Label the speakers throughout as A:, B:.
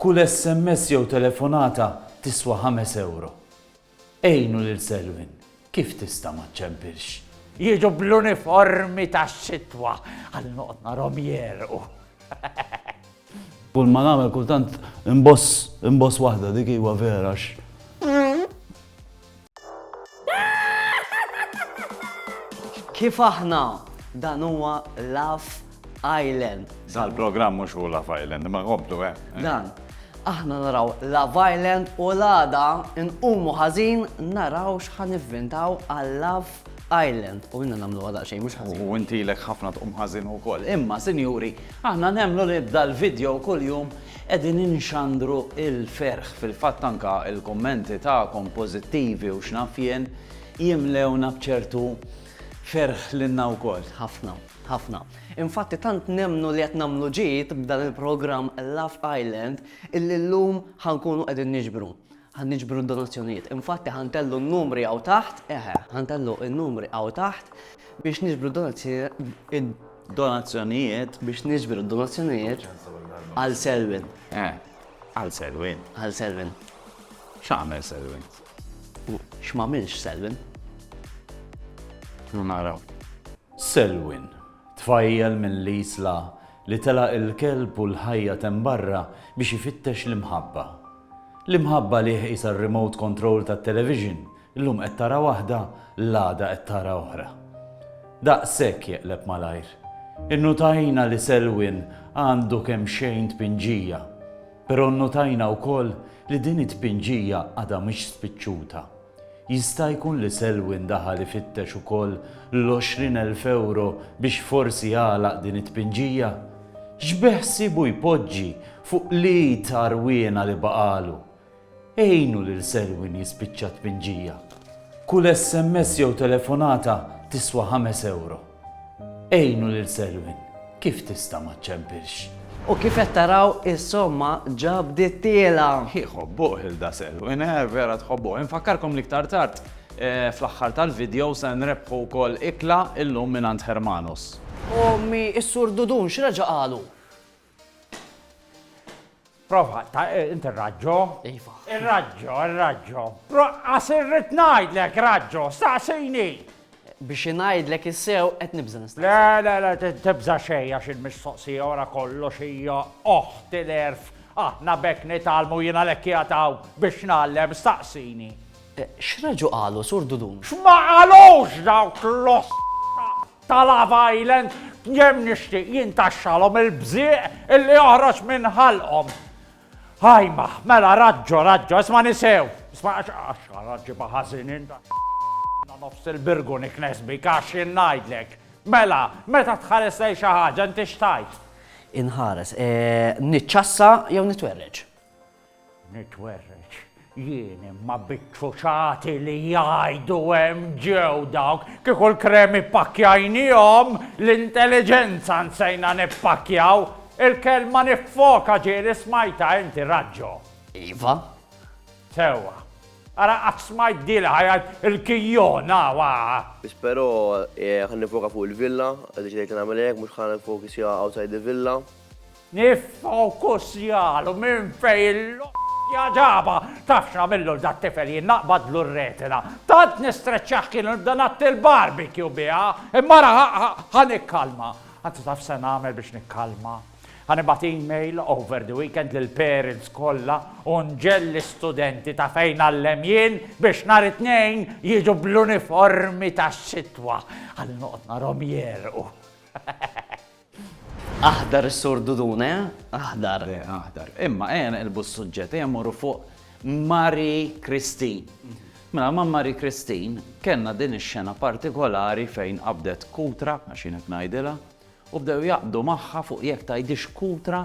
A: Kull sms jew telefonata tiswa ħames ewro. Għinu lil Selwyn kif tista' ma ċċempilx. Jiġu
B: bl-uniformi tax-xitwa ħalli noqgħod narhom jegħrqu.
A: Kull ma nagħmel kultant inboss inboss waħda dik iwa vera għax.
C: Kif aħna dan huwa Laf Island. Zal programm mhux
D: hu Laf Island, ma għobdu eh. Dan,
C: aħna naraw Laf Island u l-għada nqumu ħażin naraw x'ħan ivvintaw għal Laf Island u minna namlu għada xejn mhux ħażin. U intilek ħafna tqum
D: ħażin ukoll. Imma sinjuri,
A: aħna nemmlu li dal-video kuljum Qegħdin inxandru l-ferħ, fil-fatt anke l-kummenti tagħkom pożittivi u x'naf jien, jimlewna b'ċertu ferħ lilna wkoll. Ħafna, ħafna.
C: Infatti tant nemmnu li qed nagħmlu ġid b'dan il-programm Love Island illi llum ħa nkunu qegħdin niġbru. Ħa niġbru d-donazzjonijiet. Infatti ħa ntellgħu n-numri hawn taħt, eħe, ħa ntellgħu n-numri hawn taħt biex niġbru d-donazzjonijiet
A: biex niġbru
C: d-donazzjonijiet għal Selwyn. Eh, għal
D: Selwyn. Għal Selwyn.
C: X'għamel
D: Selwyn?
C: X'magħmilx Selwyn?
D: Naraw. Selwyn,
A: tfajjel minn l-isla Li telaq il-kelb u l-ħajjat hemm barra biex ifittex l-imħabba. L-imħabba li qisha r-remote control tat-television, illum qed tara waħda, l-għada qed tara oħra. Daqshekk jeqleb malajr. Innutajna li Selwyn għandu kemxejn tpinġija, però nnutajna wkoll li din it-tpinġija għadha mhix spiċċuta. Jista' jkun li Selwyn daħal ifittex ukoll l-għoxrin elf ewro biex forsi jagħlaq din it-tpinġija? X'beħsiebu jpoġġi fuq l-id għarwiena li baqgħalu? Għinu lil Selwyn jispiċċa t-tpinġija. Kull SMS jew telefonata tiswa ħames ewro. Għinu lil Selwyn kif tista' ma ċċempilx. U kif qed
C: taraw is-somma ġa bdiet tiela'. Iħobbuh Hilda
D: Selwyn, eh vera tħobbuh. Infakkarkom li iktar tard fl-aħħar tal-video se nrebbħu wkoll ikla illum mingħand Hermanos. Ommi,
C: is-Sur Dudun x'reġa' qalu?
B: Prova, ta' eh, inti raġġo. Iva.
C: Raġġo,
B: raġġo. Proqqas irrid ngħidlek raġġo, staqsini. Biex
C: ngħidlek issew qed nibża nista'. Le, le, le, tibża
B: xejn għax il-mistoqsija ora kollox hija oħt il-erf. Aħna bekk nitalmu jiena lekk jataw biex nallem staqsini. Eh, X'raġu
C: qalu sur Dudun? X'ma qalux
B: dawk l-oss ta' Love Island kemm nixtieq jintaxxalhom il-bżieq illi joħroġ minn ħalqhom. Ħajma, mela raġġo, raġġo, isma' nisew. Isma' għax għax ġibha ħażin inta nofs il-birgu niknes bik għax ngħidlek. Mela, meta tħares lej xi ħaġa inti xtajt? Inħares,
C: eh, niċċassa jew nitwerreġ.
B: Nitwerreġ jien imma bit-truċati li jgħidu hemm ġew dawk, kieku l-kremi ppakkjajniehom, l-intelliġenza nsejna nippakkjaw! Il-kelma niffoka ġieli smajtha inti, Raġġo? Iva. Sewwa. Ara qatt smajt dili ħa jgħid il-kijjon hawn aa! Biss però
E: ħa niffoka fuq il-villa, iddeċidejt li nagħmel hekk, mhux ħa niffoki sija outside the villa. Niffokus
B: jagħlu minn fejn il-loqja ġabha! Taf x'għamillu 'l dat-tifel jien naqbadlu r-retina. Tant nistreċċah kienu nibda ngħatti l-barbecue biha. Imma ara ħa nikkalma. Anzi taf se nagħmel biex nikkalma? Ħa nibgħat email over the weekend lill-parents kollha u nġelli studenti ta' fejn ngħallem jien biex nhar it-Tnejn jiġu bl-uniformi tax-xitwa. Ħalli noqgħod narhom jegħrqu.
C: Aħdar is-Sur Dudun, eh? Aħdar. Le, aħdar. Imma
A: ejja neqilbu s-suġġett, ejja mmorru fuq Mari Kristin. Mela ma' Mari Kristin kellna din ix-xena partikolari fejn qabdet kutra, għax jien hekk ngħidilha, u bdew jaqbdu magħha fuq jekk tgħidix kutra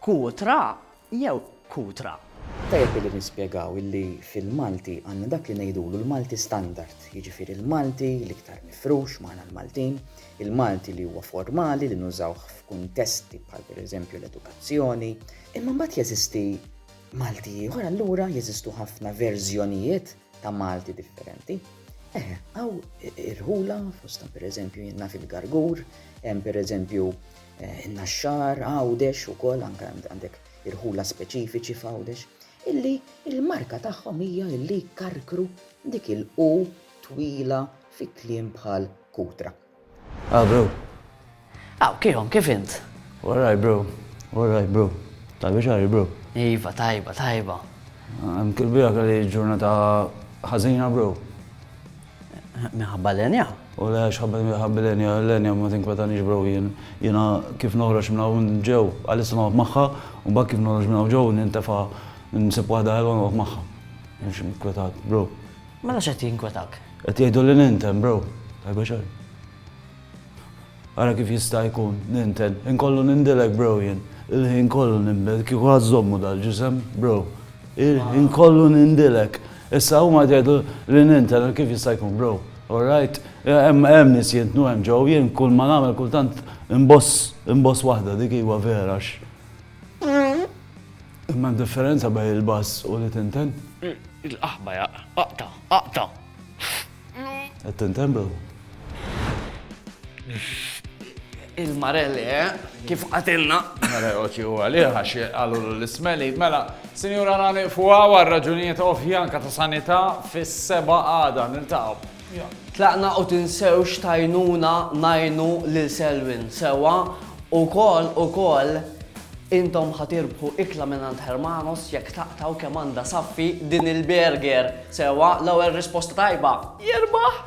C: Kutra jew
F: Kutra?
G: Tajjeb illi nispjegaw illi fil-Malti għandna dak li ngħidulu l-Malti standard, jiġifieri l-Malti l-iktar mifrux magħna l-Maltin, il-Malti li huwa formali li nużawh f'kuntesti bħal pereżempju l-edukazzjoni. Imma mbagħad jeżisti Malti ieħor, allura jeżistu ħafna verżjonijiet ta' Malti differenti. Eh, għaw irħula, fostan per eżempju jenna fil-gargur, jem per eżempju eh, naxxar, għawdex u kol, anka għandek irħula speċifiċi f'għawdex, illi il-marka tagħhom hija illi karkru dik il-u twila fi kliem bħal kutra. Ah, bro.
C: Aw, kihom, kif int? Warraj, bro.
A: Warraj, bro. Tajba xari, bro. Iva, tajba,
C: tajba. Hemm
A: kilbija kelli ġurnata ħażina, bro.
C: Minħabba l-enja? U le, xħabba
A: minħabba l-enja, l-enja ma tinkwetanix bro jien. Jiena kif noħroġ minna u ġew, għalissa noqgħod magħha, u bak kif noħroġ minna u ġew nintefa' nsib waħda ħelwa noqgħod magħha. Mhux inkwetat, bro. Mela x'qed
C: jinkwetak? Qed jgħidu li ninten,
A: bro. Tajba xejn. Ara kif jista' jkun, ninten. Inkollu nindilek, bro, jien. Il-ħin kollu ninbed kieku ħadd żommu dal-ġisem, bro. Il-ħin kollu nindilek. Issa huma qed jgħidu li ninten, kif jista' jkun, bro? All right? Hemm nies jintnu hemm ġew, jien kull ma nagħmel kultant inboss, inboss waħda, dik iva vera, għax. Imma d-differenza bejn il-bass u li tinten? Il-qaħba hija
C: aqta', aqta'.
A: Qed tinten bro?
C: Il-mare le, kif qatilna. Mare oċi huwa
D: li għax qalulu l-ismeli. Mela, sinjura għana niqfu għaw għal raġunijiet ovvja anka ta' sanità fis-seba' għada niltaqgħu. Tlaqna u
C: tinsewx tgħinuna ngħinu lil Selwyn sewwa wkoll ukoll intom ħa tirbħu ikla mingħand Hermanos jekk taqtgħu kemm għandha saffi din il burger sewwa l-ewwel risposta tajba jirbaħ!